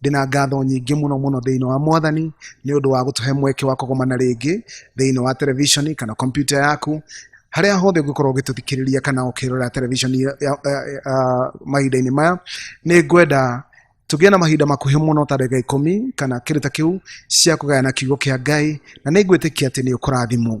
ndĩna ngatho nyingĩ mũno mũno thĩinĩ wa mwathani nĩ ũndũ wa gũtũhe mweke wa kũgomana rĩngĩ thĩinĩ wa televishoni kana kompyuta yaku harĩa hothe ũngĩkorwo ũgĩtũthikĩrĩria kana ũkĩrora televishoni ya- ya- ya- ya- mahinda-inĩ maya nĩ ngwenda tũgĩe na mahinda makuhĩ mũno ta ndagĩka ikũmi kana kĩndũ ta kĩu cia kũgayana kiugo kĩa ngai na nĩ ngwĩtĩkia atĩ nĩ ũkũrathimwo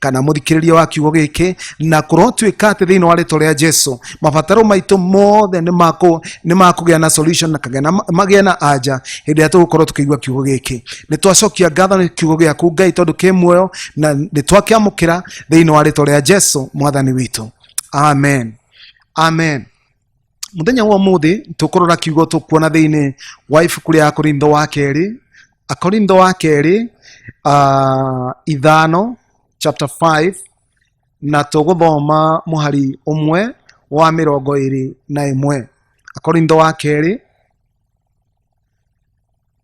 kana mũthikĩrĩria wa kiugo gĩkĩ na kũrotuĩka atĩ thĩinĩ wa rĩtwa rĩa jesu mabataro maitũ mothe nĩ makũ- nĩ makũgĩa na solution na kagĩa na magĩa na anja hĩndĩ ĩrĩa tũgũkorwo tũkĩigua kiugo gĩkĩ nĩ twacokia ngatho nĩ kiugo gĩaku ngai tondũ kĩ muoyo na nĩ twakĩamũkĩra thĩinĩ wa rĩtwa rĩa jesu mwathani witũ amen amen muthenya wa umuthi tukurora kiugo tukuona thiini wa ibuku ria akorintho wa keri akorintho wa keri uh, ithano chapter 5 na tuguthoma muhari umwe wa mirongo iri na imwe akorintho wa keri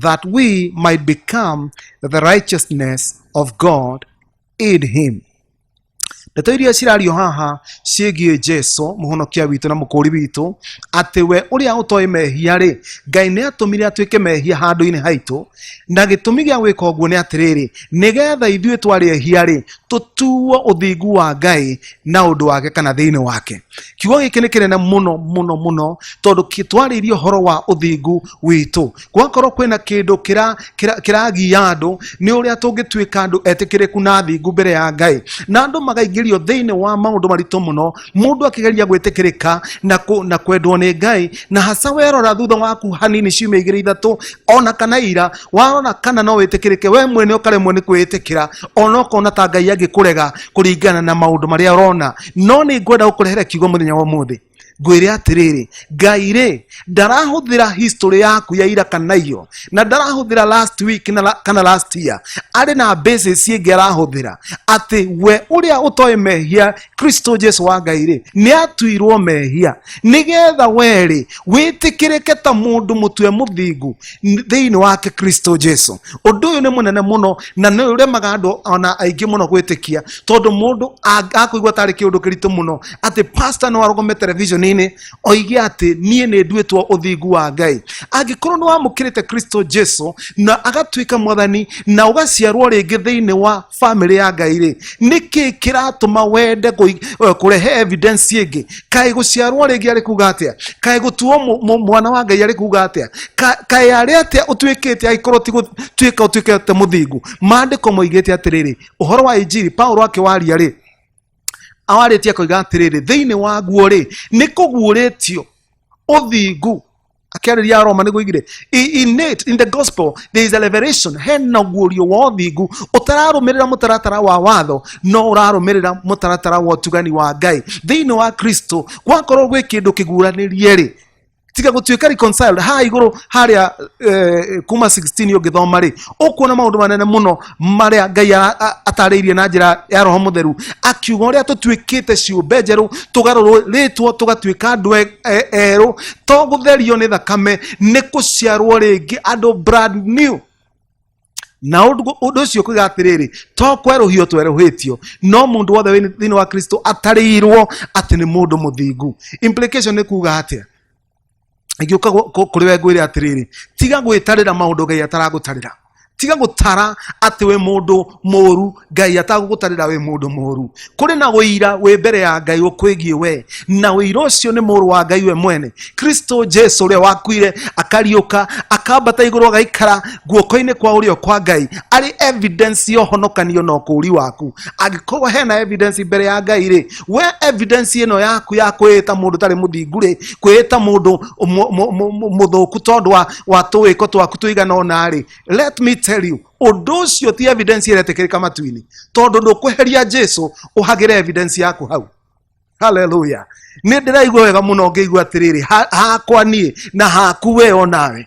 that we might become the righteousness of God in him ndeto iria cirario haha ciĩgiĩ jesu mũhonokia witũ na mũkũũri witũ atĩ we ũrĩa ũtoĩ mehia rĩ ngai nĩ atũmire atuĩke mehia handũ-inĩ haitũ na gĩtũmi gĩa gwĩka ũguo nĩ atĩrĩrĩ nĩgetha ithuĩ twarĩ ehia rĩ tũtuo ũthingu wa ngai na ũndũ wake kana thĩinĩ wake kiugo gĩkĩ nĩ kĩnene mũno mũno mũno tondũ kĩ- twarĩirie ũhoro wa ũthingu witũ gwakorwo kwĩna kĩndũ kĩra- kĩra- kĩragia andũ nĩ ũrĩa tũngĩtuĩka andũ etĩkĩrĩku na athingu mbere ya ngai na andũ magaingĩrio thĩinĩ wa maũndũ maritũ mũno mũndũ akĩgeria gwĩtĩkĩrĩka na, kũ, na kwendwo nĩ ngai na haca werora thutha waku hanini ciumia igĩrĩ ithatũ ona kana ira warora kana no wĩtĩkĩrĩke we mwene ũkaremwo nĩ kwĩĩtĩkĩra ona ũkona ta ngai angĩkũrega kũringana na maũndũ marĩa ũrona no nĩ ngwenda gũkũrehera kiugo mũthenya wa ũmũthĩ ngwĩre atĩrĩrĩ ngai rĩ ndarahũthĩra history yaku ya ira kana iyo na ndarahũthĩra last week na la- kana last year arĩ na basis ingĩ arahũthĩra atĩ we ũrĩa ũtoĩ mehia kristo jesu wa ngai rĩ nĩ atuirwo mehia nĩgetha we rĩ wĩtĩkĩrĩke ta mũndũ mũtwe mũthingu thĩinĩ wake kristo jesu ũndũ ũyũ nĩ mũnene mũno na nĩ ũremaga andũ ona aingĩ mũno gwĩtĩkia tondũ mũndũ ang- akũigua tarĩ kĩũndũ kĩritũ mũno atĩ pasta no arũgame television-inĩ oige atĩ niĩ nĩ nduĩtwo ũthingu wa ngai angĩkorwo nĩ wamũkĩrĩte kristo jesu na agatuĩka mwathani na ũgaciarwo rĩngĩ thĩinĩ wa family ya ngai rĩ nĩkĩ kĩratũma wende kũi- eh, kũrehe evidence ĩngĩ kaĩ gũciarwo rĩngĩ arĩ kuga atĩa kaĩ gũtuo mũ- mũ- mwana wa ngai arĩ kuga atĩa Ka- kaĩ arĩ atĩa ũtuĩkĩte agĩkorwo ti gũtuĩka ũtuĩkĩte mũthingu maandĩko moigĩte atĩrĩrĩ ũhoro wa injiri paulo akĩwaria rĩ awarĩtie koiga atĩrĩrĩ thĩinĩ waguo rĩ nĩ kũguũrĩtio ũthingu akĩarĩria aroma nĩguo igire I- in it in the gospel there is a revelation hena ũguũrio wa ũthingu ũtararũmĩrĩra mũtaratara wa watho no ũrarũmĩrĩra mũtaratara wa ũtugani wa ngai thĩinĩ wa kristo gwakorwo gwĩ kĩndũ kĩguũranĩrie rĩ tiga gũtuĩka reconciled ha igũrũ harĩa eh, kuma 16 ũngĩthoma rĩ ũkuona maũndũ manene mũno marĩa ngai ara- a- atarĩirie na njĩra ya roho mũtheru akiuga ũrĩa tũtuĩkĩte ciũmbe njerũ tũgarũrwo rĩtwo tũgatuĩka andũ e- e- erũ to gũtherio nĩ thakame nĩ kũciarwo rĩngĩ andũ brand new na ũndũ ũndũ ũcio kuga atĩrĩrĩ to kwerũhio twerũhĩtio no mũndũ wothe wĩ thĩinĩ wa kristo atarĩirwo atĩ nĩ mũndũ mũthingu implication nĩ kuga atĩa ngĩũka kũrĩ we ngwĩre atĩrĩrĩ tiga gwĩtarĩra maũndũ ngai ataragũtarĩra tiga gũtara atĩ wĩ mũndũ mũũru ngai atagũgũtarĩra wĩ mũndũ mũũru kũrĩ na ũira wĩ mbere ya ngai ũkwĩgiĩ we na ũira ũcio nĩ mũrũ wa ngai we mwene kristo jesu ũrĩa wakuire akariũka akambata igũrũ agaikara guoko-inĩ kwa ũrĩo kwa ngai arĩ evidence ya ũhonokanio na ũkũũri waku angĩkorwo hena evidence mbere ya ngai rĩ we evidence ĩno yaku ya kwĩĩta mũndũ tarĩ mũthingu rĩ kwĩĩta mũndũ mu- mu- mu- mu- mũthũku tondũ wa- wa tũwĩko twaku tũigana ũna rĩ let me tell you ũndũ ũcio ti evidence ĩretĩkĩrĩka matu-inĩ tondũ ndũkweheria jesu ũhagĩre evidence yaku hau haleluya nä ndä raigua wega må no ngä igua atä rä rä hakwa niä na haku we o nawe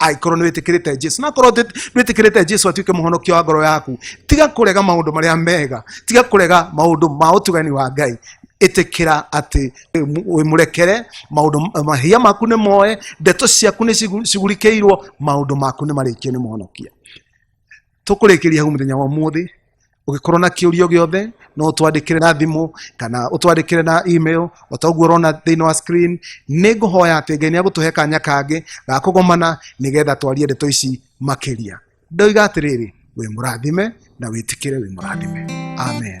angĩkorwo nĩ wĩtĩkĩrĩte jesu na korwo ndwĩtĩkĩrĩte jesu atuĩke mũhonokia wa ngoro yaku tiga kũrega maũndũ marĩa mega tiga kũrega maũndũ ma ũtugani wa ngai ĩtĩkĩra atĩ wĩmũrekere maũndũ mahia maku nĩ moe ndeto ciaku nĩ cigu- cigurikĩirwo maũndũ maku nĩ marĩkio nĩ mũhonokia tũkũrĩkĩria hau mũthenya wa ũmũthĩ ũgĩkorwo na kĩũrio gĩothe no ũtwandĩkĩre na thimũ kana ũtwandĩkĩre na email o ta ũguo ũrona thĩinĩ wa screen nĩ ngũhoya atĩ ngai nĩ agũtũhe kanya kangĩ ga kũgomana nĩgetha twarie ndeto ici makĩria ndoiga atĩrĩrĩ wĩ mũrathime na wĩtĩkĩre wĩ mũrathime amen